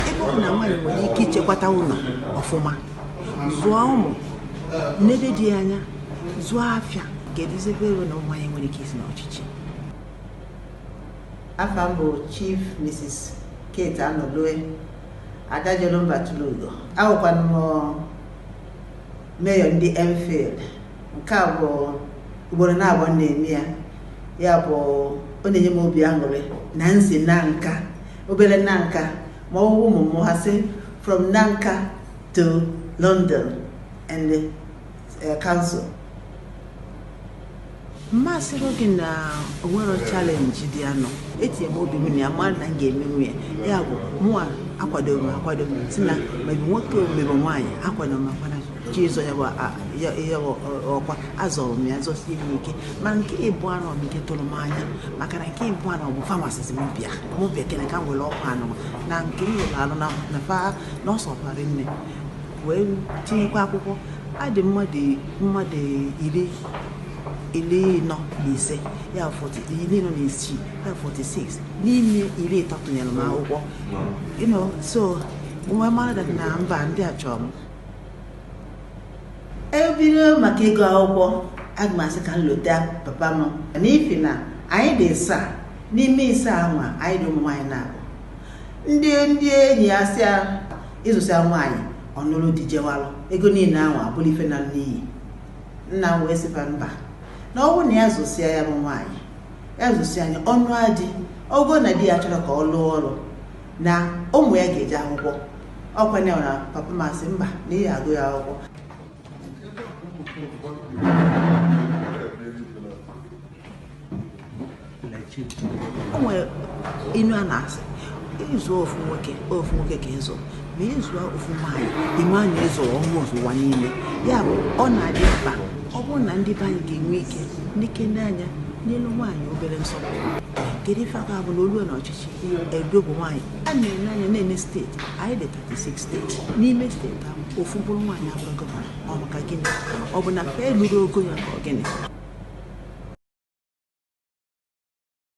ebe ọ bụ na nwaanyị nwere ike ichekwata ụnọ ọfụma zụọ ụmụ nebe di anya zụọ afịa ga-eduzebe ego na nwaanyị nwere ike isi n'ọchịchị afa m bụ chief mrs kate anọlue ada jelu mba tulu ugo awụkwanụ m meyọ ndị enfield nke a bụ ugboro naabọ m na-eme ya ya bụ ọ na-enye m obi aṅụrị na m si nanka obele nanka ma ọ bụ ụmụ m ha sị from nanka to london and the uh, council m ma asị gị na o nwerọ challenge dị anọ etinye m obi m na ya mara na m ga-emenwu ya ya bụ mụwa akwadoro m akwado si na ma ọ bụ nwoke ma ọ bụ nwaanyị akwadoro m akwado ji ịzọ ya bụ a- ya- ya bụ ọ- ọkwa azọrọ m ya zọsie ya ike ma nke ịbụa nụ bụ nke tụrụ m anya maka na nke ịbụa nụ bụ fa na-asị m bịa m bịa kene ka m were ọkwa anọ na nke m lụrụ alụ na na fa na ọ sọkwara m wee tinyekwa akwụkwọ a dị mmadụ mmadụ iri iri ịnọ na ise ya bụ 40 iri ịnọ na isii ya bụ 46 n'ime iri ịtọ tụnyere m akwụkwọ you know so m wee mara na mba ndị a chọrọ m e bido maka ịgụ akwụkwọ aga m asị ka m lota papa m n'ifi na anyị dị ịsaa n'ime ịsaa anwa anyị dị ụmụ nwaanyị naabọ ndị ndị enyi ya sị ya ị zụsịa nwaanyị ọ nụrụ di jewalụ ego niine anwa abụrụ ife na n'iyi nna m wee sị fa mba na ọ bụrụ na ya zụsịa ya bụ nwaanyị ya zụsịa nya ọ nụa di ọ bụgo na di ya achọrọ ka ọ lụọ ọrụ na ụmụ ya ga-eje akwụkwọ ọkwanụ na papa m asị mba na ị agụ ya akwụkwọ o nwere inu a na-asị ị zụọ ofu nwoke ofu nwoke ka ị zụ ma ị zụọ ofu nwaanyị ị ma na ị zụọ ụmụ ụwa niile ya bụ ọ na-adị mkpa ọ bụrụ na ndị be anyị ga-enwe ike nekene anya nyelụ nwaanyị obere nsọpụrụ kedu ife ọ ga-abụ na o lue n'ọchịchị e dobe nwaanyị ana nene anya nene steeti anyị dị 36 steeti n'ime steeti ahụ ofu mkpụrụ nwaanyị abụrọ gọvanọ ọ maka gịnị ọ bụ na fa elurọ ogo ya ka ọ gịnị